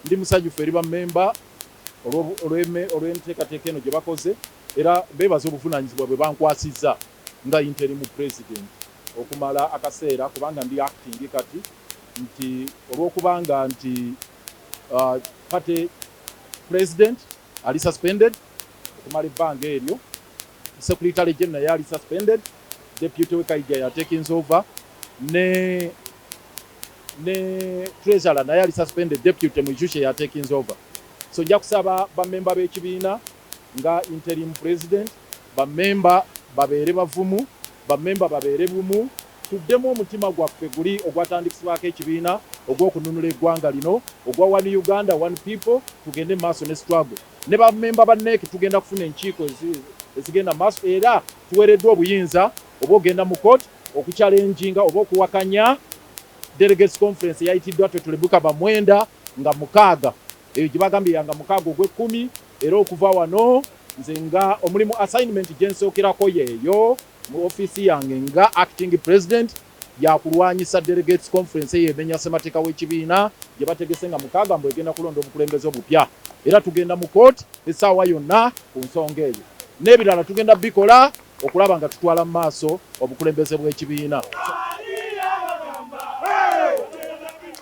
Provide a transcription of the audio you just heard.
ndi musanyufu eri bammemba olw'enteekateeka eno gye bakoze era beebaza obuvunaanyizibwa bwe bankwasizza nga interimu president okumala akaseera kubanga ndi acting kati nti olw'okubanga nti uh, party president ali suspended okumala ebbanga eryo secretary general yali suspended deputy we kaija yatakings over ne ne treasurer naye ali suspended deputy mwijushe yatakings over so nja kusaba bamemba b'ekibiina nga interim president bamemba babeere bavumu bamemba babeere bumu Tuddemu omutima gwaffe guli ogwatandikisbwaako ekibiina ogw'okununula egwanga lino ogwa One Uganda, One People tugende mu maaso ne struggle. Ne ba memba ba NEC tugenda kufuna enkiiko ezigenda mu maaso era tuwereddwa obuyinza obw'ogenda mu court oku challenginga oba okuwakanya Delegates Conference eyayitiddwa Totally Bukaba Mwenda nga mukaaga eyo gye bagambye ya nga mukaaga ogw'ekkumi era okuva wano nze nga omulimu assignment gye nsookerako yeeyo. mu offiisi yange nga Acting President ya kulwanyisa Delegates Conference eyo emenya ssemateeka w'ekibiina gye bategese nga mukaaga mbu egenda kulonda obukulembeze obupya era tugenda mu kooti essaawa yonna ku nsonga eyo n'ebirala tugenda bikola okulaba nga tutwala mu maaso obukulembeze bw'ekibiina.